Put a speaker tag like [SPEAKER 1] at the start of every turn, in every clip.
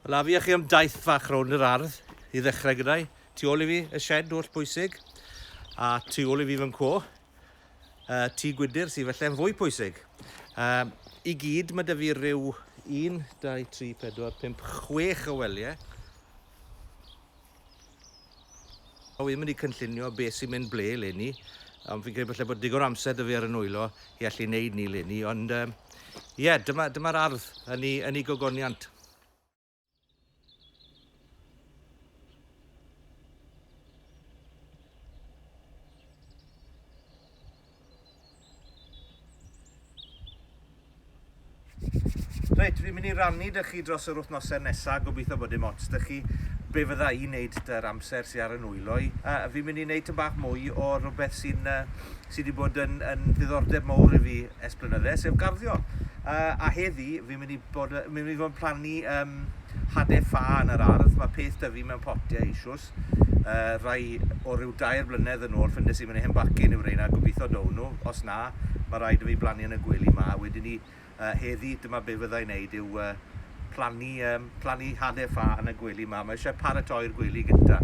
[SPEAKER 1] Wel, a fi a chi am daith fach rownd yr ardd i ddechrau gyda i. Tu ôl i fi, y shed oll bwysig, a tu ôl i fi fy nhw, uh, tu gwydr sydd felly'n fwy pwysig. Um, I gyd, mae dy fi rhyw 1, 2, 3, 4, 5, 6 o weliau. O fi'n mynd i cynllunio beth sy'n mynd ble leni, ond fi'n credu falle bod digon amser dy fi ar y nwylo i allu wneud ni leni, ond um, ie, yeah, dyma'r dyma ardd yn ei, yn ei gogoniant. Reit, fi'n mynd i rannu dych chi dros yr wythnosau nesaf, gobeithio bod dim ots dych chi be fydda i'n neud dy'r amser sy'n ar y nwylo i. Uh, fi'n mynd i wneud tyn bach mwy o rhywbeth sy'n uh, sy wedi bod yn, yn ddiddordeb mawr i fi es blynydde, sef garddio. Uh, a heddi, fi'n mynd i bod, mynd i fod yn plannu um, hade ffa yn yr ardd, mae peth dyfu mewn potiau eisiwys, lot. Uh, rai o ryw dair blynedd yn ôl, ffyndes i mynd i hen bacin yw reina, gobeithio down nhw. Os na, mae rhaid i fi blannu yn y gwely ma. Wedyn ni, uh, heddi, dyma be fyddai wneud yw uh, plannu, um, plannu hade ffa yn y gwely ma. Mae eisiau paratoi'r gwely gyntaf.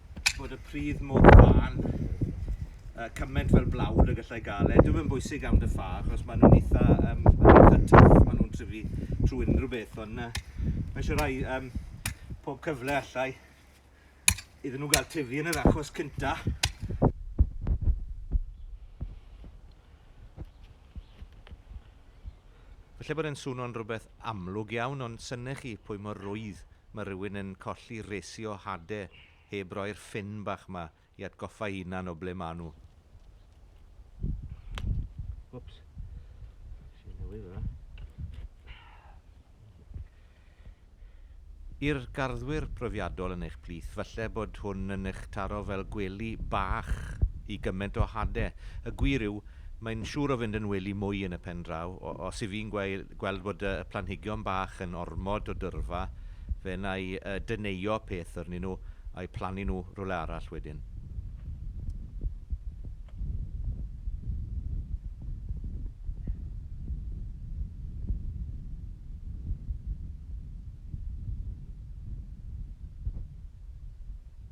[SPEAKER 1] bod y pridd mor fan, uh, cymaint fel blawd y gallai gael e. Dwi'n mynd bwysig am dy ffa, achos maen nhw'n eitha, um, eitha twff, maen nhw'n tryfu trwy unrhyw beth, ond uh, mae eisiau rhai um, pob cyfle allai iddyn nhw gael tyfu yn yr achos cynta. Felly bod e'n swnio'n rhywbeth amlwg iawn, ond synnech chi pwy mor rwydd Mae rhywun yn colli resi o hade heb roi'r ffyn bach 'ma i atgoffa'i hunan o ble maen nhw. Wps. Nes i newid hwnna. I'r garddwyr profiadol yn eich plith, falle bod hwn yn eich taro fel gwely bach i gymaint o hade. Y gwir yw, mae'n siŵr o fynd yn wely mwy yn y pen draw, o- os 'y fi'n gweud. gweld bod y planhigion bach yn ormod o dyrfa, fe wna i deneuo peth arnyn nhw a'u plannu nhw rhywle arall wedyn.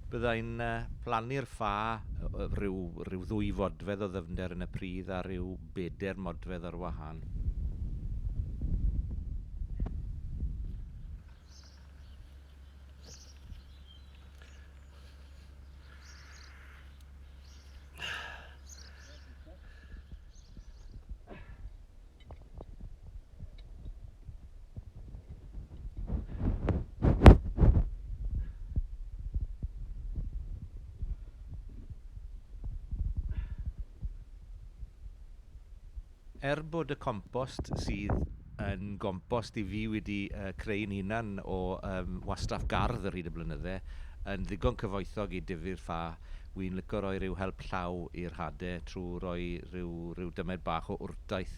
[SPEAKER 1] Bydda i'n plannu'r ffa, rhyw ddwy fodfedd o ddyfnder yn y pridd a rhyw bedair modfedd ar wahân. Er bod y compost sydd yn gompost i fi wedi creu'n hunan o wastraff gardd ar hyd y blynydde yn ddigon cyfoethog i dyfu'r ffa, wi'n lico roi rhyw help llaw i'r hade trwy roi rhyw rhyw dymed bach o wrtaith.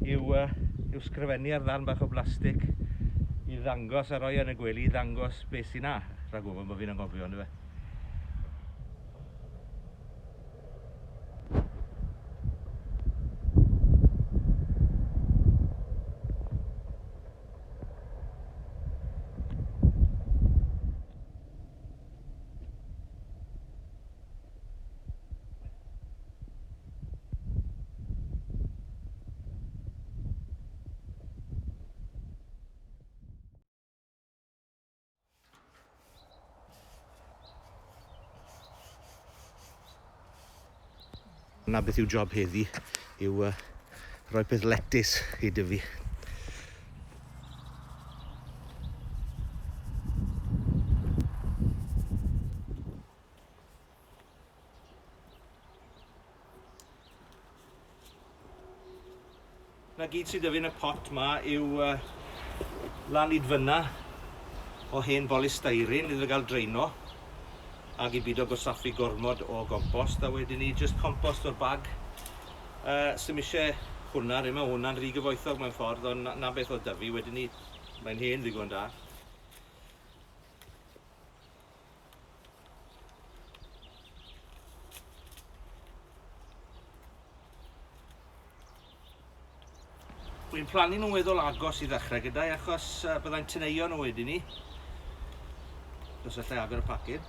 [SPEAKER 1] yw, uh, yw sgrifennu ar ddarn bach o blastig i ddangos a roi yn y gwely i ddangos beth sy'n na, rhag ofyn bod fi'n angofio, ynddo fe. Na beth yw job heddi yw uh, rhoi peth letys i dyfu. Na gyd sydd 'da fi yn y pot 'ma yw uh, lanidfynna o hen bolystyrene iddo fe gael draeno ac i byd o gosaffu gormod o gompost a wedyn ni just compost o'r bag. Uh, Sym eisiau hwnna, rydym mae hwnna'n rhy gyfoethog mewn ffordd, ond na, na beth o dyfu, wedyn ni, mae'n hen ddigon da. Wi'n plannu nhw'n weddol agos i ddechrau gyda'i achos uh, byddai'n tyneio nhw wedyn ni. Os allai agor y pacyn.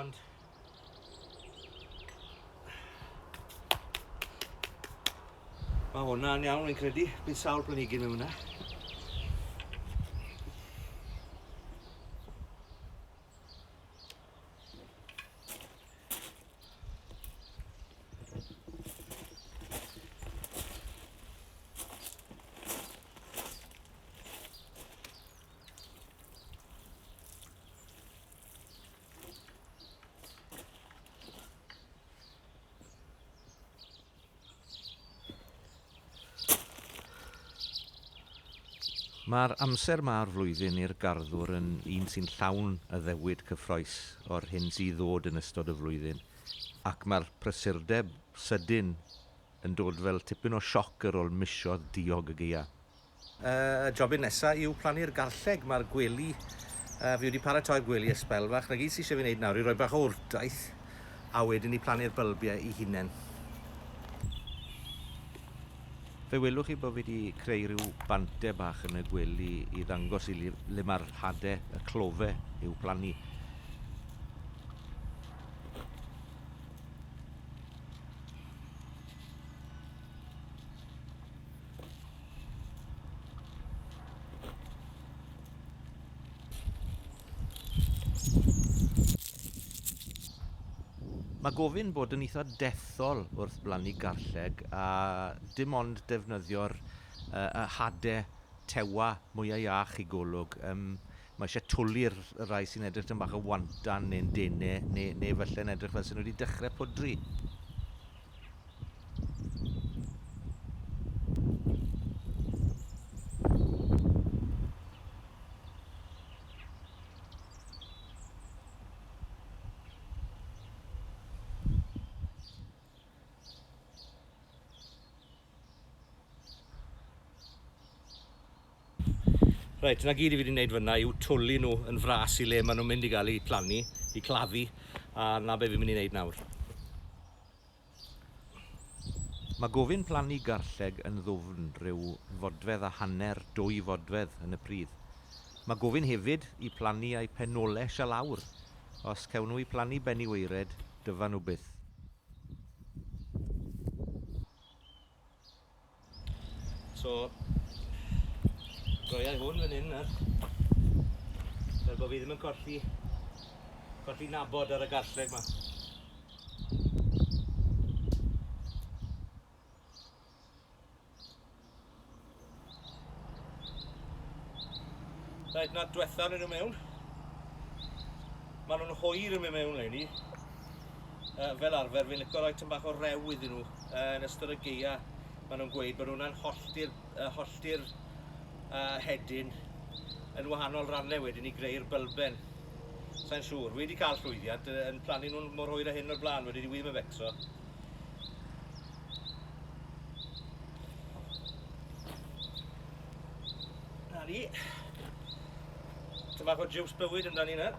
[SPEAKER 1] Ond... Mae hwnna'n iawn, fi'n credu. Bydd sawl planigyn mewn hwnna. Mae'r amser ma o'r flwyddyn i'r garddwr yn un sy'n llawn addewid cyffroes o'r hyn sydd i ddod yn ystod y flwyddyn, ac mae'r prysurdeb sydyn yn dod fel tipyn o sioc ar ôl misoedd diog y gaeaf. Y jobyn nesa yw plannu'r garlleg. Mae'r gwely, fi wedi paratoi'r gwely ers sbel fach. 'Na gyd sydd eisiau fi wneud nawr yw rhoi bach o wrtaith a wedyn i plannu'r bylbiau i hunain. Fe welwch chi bod fi wedi creu rhyw bante bach yn y gwely i ddangos i le mae'r hadau, y clofe, i'w plannu. Mae gofyn bod yn eitha dethol wrth blannu garlleg a dim ond defnyddio'r yy y hade tewa mwya iach i golwg. Yym Mae eisiau twli i'r rhai sy'n edrych tipyn bach yn wantan neu'n dene, neu, neu falle'n edrych fel sy'n nhw wedi dechrau pwdri. Reit, 'na gyd i fi 'di neud fynna yw twli nhw yn fras i le ma' nhw'n mynd i gael 'u plannu, 'u claddu, a 'na be' fi'n mynd i neud nawr. Mae gofyn plannu garlleg yn ddwfn, rhyw fodfedd a hanner, dwy fodfedd yn y pridd. Mae gofyn hefyd i plannu a'u penoles a lawr. Os cewn nhw 'u plannu ben i waered, dyfan nhw byth. So, droiai hwn fan hyn nawr. Fel bod fi ddim yn colli, colli nabod ar y garlleg ma. Rhaid na diwetha nhw mewn. Maen nhw'n hwyr yn mynd mewn le ni. Uh, fel arfer, fi'n licio rhoi tymach o rew iddyn nhw uh, yn ystod y geia. Maen nhw'n gweud bod hwnna'n hollti'r uh, hollti uh, hedyn yn wahanol rannau wedyn i greu'r bylben. Sa'n siŵr, wedi cael llwyddiant yn plannu nhw'n mor hwyr a hyn o'r blaen, wedi wedi wir yn becso. Na ni. Dyma fod jiws bywyd amdani nawr.